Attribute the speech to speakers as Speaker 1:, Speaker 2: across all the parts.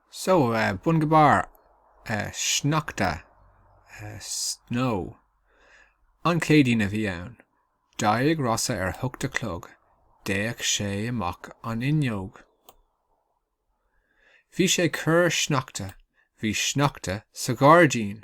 Speaker 1: So, bun go barr, sneachta, snow. An Chéadaoin a bhí ann. D'éirigh Rossa ar a hocht a chlog. D'fhéach sé amach an fhuinneog. Bhí sé ag cur sneachta. Bhí sneachta sa ghairdín.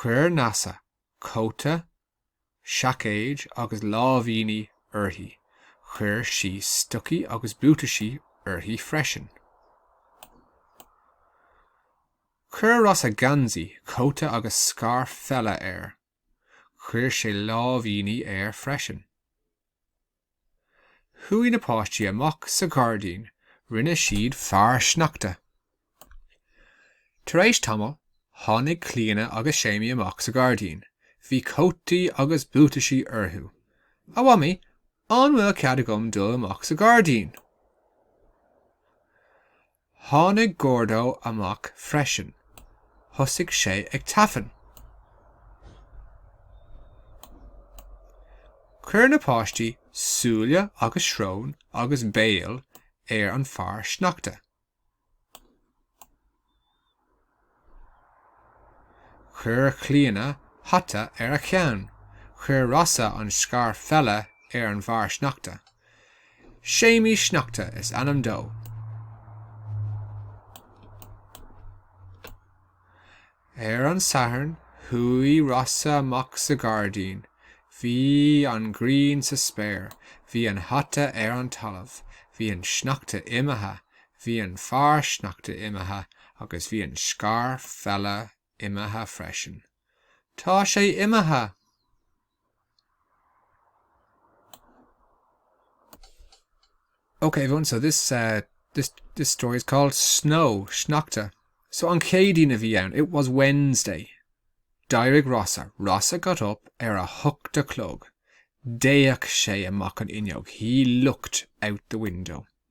Speaker 1: Chuir Neasa cóta, seaicéid agus láimhíní uirthi. Chuir sí stocaí agus buataisí uirthi freisin. Chuir Rossa geansaí, cóta agus scairf pheile air. Chuir sé láimhíní air freisin. Chuaigh na páistí amach sa ghairdín, rinne siad fear sneachta. Tar éis tamaill, tháinig Clíona agus Séimí amach sa ghairdín. Bhí cótaí agus buataisí orthu. A Mhamaí, an bhfuil cead agam dul amach sa ghairdín? Tháinig Gordo amach freisin. Thosaigh sé ag tafann. Chuir na páistí súile agus srón agus béal ar an fhear sneachta. Chuir Clíona hata ar a cheann. Chuir Rossa an scairf pheile ar an bhfear sneachta. Séimí Sneachta is ainm dó. Ar an Satharn, chuaigh Rossa amach sa ghairdín. Bhí an ghrian sa spéir. Bhí an hata ar an talamh. Bhí an sneachta imithe. Bhí an fear sneachta imithe agus bhí an scairf pheile imithe freisin. Tá sé imithe! Ok everyone, so this uh, this this story is called Snow Sneachta. So an Chéadaoin a bhí ann, it was Wednesday. D'éirigh Rossa. Rossa got up ar a hocht a chlog. D'fhéach sé amach an fhuinneog. He looked out the window.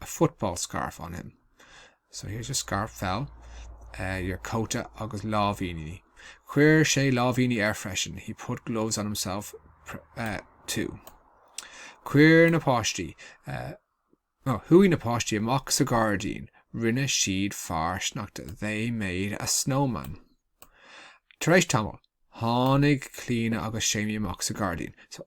Speaker 1: a football scarf on him, so here's your scairf pheile, uh, your cóta agus láimhíní, chuir sé láimhíní air freisin, he put gloves on himself, uh, too. Chuir na páistí, uh, no, chuaigh na páistí amach sa ghairdín, rinne siad fear sneachta, they made a snowman. Tar éis tamaill, tháinig Clíona agus Séimí amach sa ghairdín, so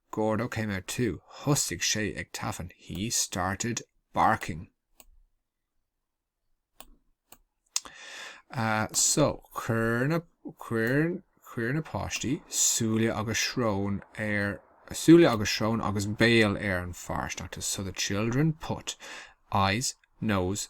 Speaker 1: Gordo came out too, thosaigh sé ag tafann, he started barking. Uh, so, chuir na, chuir, chuir na páistí súile agus srón ar, súile agus srón agus béal ar an fear sneachta. So the children put eyes, nose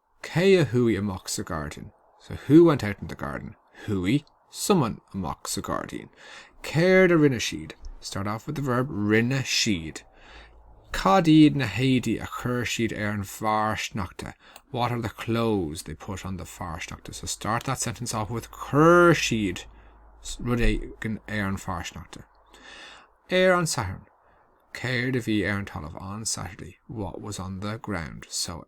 Speaker 1: Cé a chuaigh amach sa ghairdín? So who went out in the garden? Chuaigh, someone, amach sa ghairdín. Céard a rinne siad? Start off with the verb rinne siad. Cad iad na héadaí a chuir siad ar an bhfear sneachta? What are the clothes they put on the fear sneachta? So start that sentence off with chuir siad rud éigin ar an bhfear sneachta. Ar an Satharn. Céard a bhí ar an talamh? On Saturday. What was on the ground? So